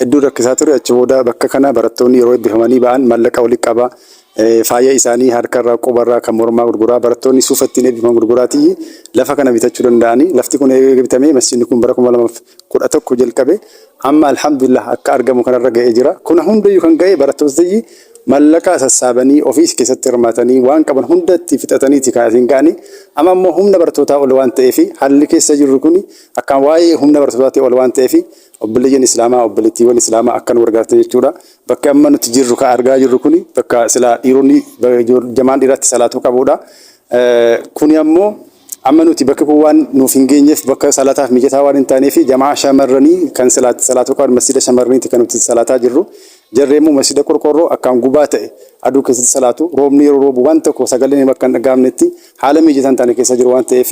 Hedduu rakkisaa ture. Achi booda bakka kana barattoonni yeroo eebbifamanii ba'an mallaqa walitti qabaa, faaya isaanii harkarraa, qubarraa, kan mormaa gurguraa, barattoonni suufa ittiin eebbifaman gurguraatiyyi lafa kana bitachuu danda'ani. Lafti kun eega bitamee masjidni kun bara 2011 jalqabe amma alhamdulillah akka argamu kanarra ga'ee jira. Kuna hundayyuu kan ga'e barattootni mallaqa sassaabanii ofiis keessatti hirmaatanii waan qaban hunda itti fixataniiti kan asiin ga'ani. Amma immoo humna barattootaa ol waan ta'eefi haalli keessa jirru kun akkaan waa'ee humna barattootaatti ol waan ta'eefi Obboleeyyan Islaamaa, obboleettiiwwan Islaamaa akkan wal gartan jechuudha. Bakki amma nuti jirru kan argaa jirru kun bakka silaa dhiironni jamaan dhiiraatti salaatuu qabuudha. Kuni ammoo amma nuti bakki kun waan nuuf hin geenyeef bakka salaataaf mijataa waan hin taaneef jamaa shamarranii kan silaatti salaatuu qaban masjida shamarraniitti kan nuti salaataa jirru. Jarri immoo masjida qorqorroo akkaan gubaa ta'e aduu keessatti salaatu roobni yeroo roobu waan tokko sagaleen bakka hin dhaga'amnetti haala mijataa hin taane keessa jiru waan ta'eef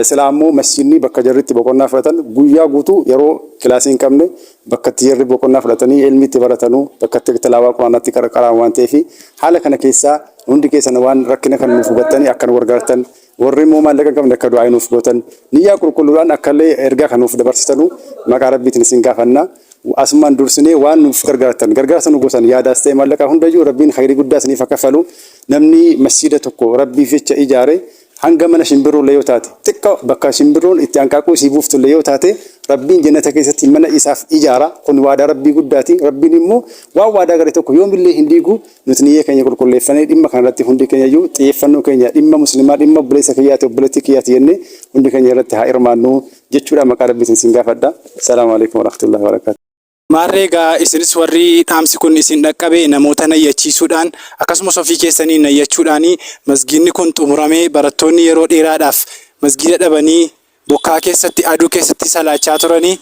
Silaa ammoo masjiidni bakka jarri itti boqonnaa fudhatan guyyaa guutuu yeroo kilaasii hin qabne bakka itti jarri boqonnaa fudhatanii ilmi itti baratanu bakka itti tilaawaa quraanaa itti qarqaraan waan ta'eef haala kana keessaa hundi keessan waan rakkina kan nuuf hubattanii akka nu gargaartan warri immoo maallaqa hin qabne akka du'aa nuuf gootan niyyaa qulqulluudhaan akka illee ergaa kan nuuf dabarsitanu maqaa rabbiitiin isin gaafanna asumaan dursinee waan nuuf gargaartan gargaarsa nu gootan yaadaas ta'e maallaqaa hundayyuu rabbiin khayrii guddaa isiniif akka falu namni masjiida tokko rabbiif jecha ijaare Hanga mana shimbirroollee yoo taate, xiqqo bakka shimbirroon itti hanqaaquu isii buuftullee yoo taate, Rabbiin Jannata keessatti mana isaaf ijaara. Kun waadaa Rabbii guddaati. Rabbiin immoo waan waadaa gale tokko yoomillee hin diigu. Nuti niyyee keenya qulqulleeffanee dhimma kana irratti hundi keenyayyuu xiyyeeffannoo keenya dhimma Muslimaa, dhimma obboleessa kiyyaati, obboleettii kiyyaati jennee hundi keenya irratti haa hirmaannu jechuudhaan maqaa Rabbiitiin isin gaafadha. Assalaamu Aleykum Warahmatullahi Wabarakaatuh. Maarree egaa isinis warri dhaamsi kun isin dhaqqabe namoota nayyachiisuudhaan akkasumas ofii keessanii nayyachuudhaan masgiidni kun xumuramee barattoonni yeroo dheeraadhaaf masgiida dhabanii bokkaa keessatti aduu keessatti salaachaa turanii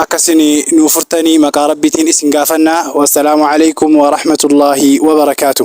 akka isin nuu furtanii maqaa rabbiitiin isin gaafannaa wassalaamu alaikum warahmatullaahi wabarakaatu.